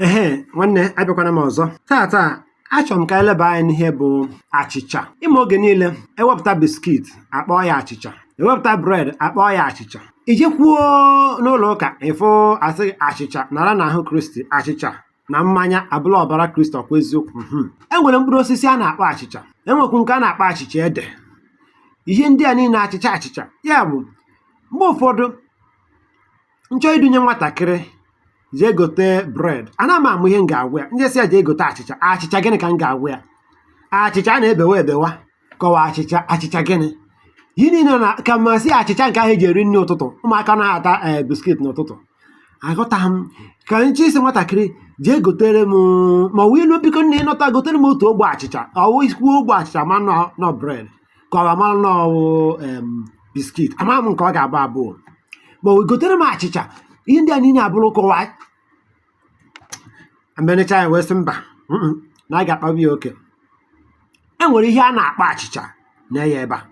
ehe nwanne abịakwana m ọzọ tata achọrọ m ka anyị leba anya n'ihe bụ achịcha ị ma oge niile ewepụta biskit akpọọ ya achịcha ewepụta bred akpọọ ya achịcha i jekwuo n'ụlọ ụka ị fụ a sị achịcha nara n'ahụ kristi achịcha na mmanya abụla ọbara kristi ọ kwa eziokwu mhm. e nwere mkpụrụ osisi a na-akpọ achịcha enwekwu nke a na-akpọ achịcha ede ihe ndị a niile achịcha achịcha ya bụ mgbe ụfọdụ m chọọ idunye nwatakịrị jee gote bred ana m ama ihe m ga-agwa ya m je-asị ya jee gote achịcha achịcha gịnị ka m ga-agwa ya achịcha a na-ebewa ebewa ka ọ wụ achịcha achịcha gịnị ihe niile na ka m sị achịcha nke ahụ eji eri nri ụtụtụ ụmụaka naghị ata ee biskit n'ụtụtụ aghọtaghị m ka m je-esi sị nwatakịrị jee gotere m ma ọ wụ ilu biko nna ị nata gotere m otu ogbe achịcha ọ wụ i kwuo ogbe achịcha ma na ọ bred ka ọ mara na ọ wụ em biskit ama m nke ọ ga-abụ abụọ ma o gotere m achịcha ihe ndị a niile abụrụ kọwa mbenecha ya wee sị mba mm-mm, na a ga-akpagbu ya oke e nwere ihe a na-akpọ achịcha nee ya ebe a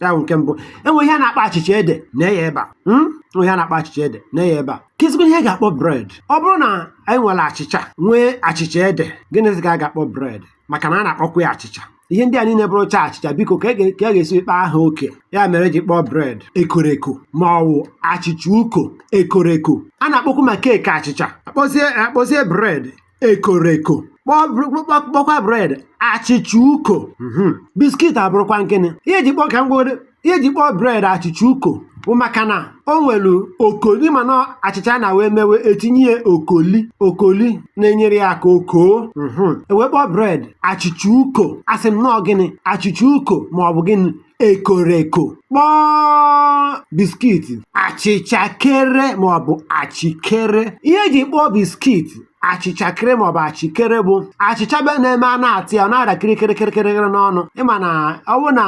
ya bụ nke mbụ e nwere ihe a na-akpọ achịcha ede nee ya ebe a Mm? E nwere ihe a na-akpọ achịcha ede nee ya ebe a kezikwa ihe a ga-akpọ bred ọ bụrụ na anyị nwere achịcha nwee achịcha ede gịnịzi ka a ga-akpọ bred maka na a na-akpọkwa ya achịcha ihe ndị a niile bụrụcha achịcha biko ka a ga-esi kpaa ha oke ya mere e ji kpọọ bred ekoreko ma ọ wụ achịcha uko ekoreko a na-akpọkwu ma keeki achịcha akpọzie akpọzie bred ekoreko kpọkwa bred achịcha uko mhm. biskit abụrụkwanụ gịnị ihe eji kpọ ka m ihe e ji kpọọ bred achịcha uko bụ maka na o nwere okoli mana achịcha na wee mewe etinye ya okoli okoli na-enyere ya aka o koo mhm. ewee kpọọ bred achịcha uko asị m na ọ gịnị achịcha uko ma ọ bụ gịnị ekoreko kpọọ biskiti achịcha kere ma ọ bụ achịkere ihe eji kpọọ biskiti achịcha kere maọbụ achịkere bụ achịcha be na-eme a na-ata ya ọ na-ada kirikiri kirikiri n'ọnụ ị ma na ọ bụ na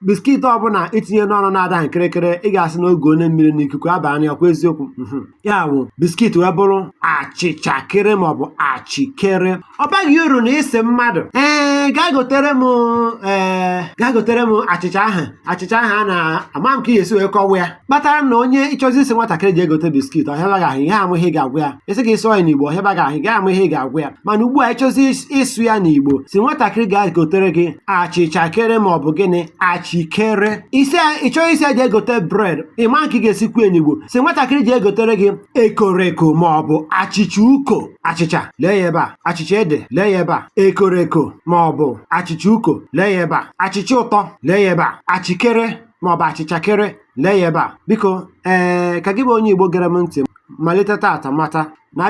biskit ọbụla i tinye n'ọnụ na-adahụ kirikiri ị ga-asị na oge onye mmiri na ikuku abanye ọ kwa eziokwu mhm. ya bụ biskit wee bụrụ achịcha kere maọbụ achịkere ọ baghị uru na ịsị mmadụ ee gaa gotere m ee gaa gotere m achịcha ahụ achịcha ahụ a na-ama m ka ihe esi wee kọwa ya kpatara na onye ị chọzi ịsị nwatakịrị jee gote biskit ọ hịaba gị ahụ ihe ama ihe ị ga-agwa ya a sị gị sụọ ya n'igbo ọ hịaba gị ahụ ị gaghị ama ihe ị ga-agwa ya mana ugbu a ị chọzi ịs- ịsụ ya n'igbo sị nwatakịrị gaa gotere gị achịcha kere ma ọ bụ gịnị achikere isi ị chọọ ịsị ya jee gote bred ị ma nke ị ga-esi kwuo ya n'igbo sị nwatakịrị jee gotere gị ekoreko ma ọ bụ achịcha uko achịcha lee ya ebe a achịcha ede lee ya ebe a ekoreko ma ọ bụ achịcha uko lee ya ebe a achịcha ụtọ lee ya ebe a achịkere ma ọ bụ achịcha kere lee ya ebe a biko ee ka gị bụ onye Igbo gere m ntị malite tata mata na abịa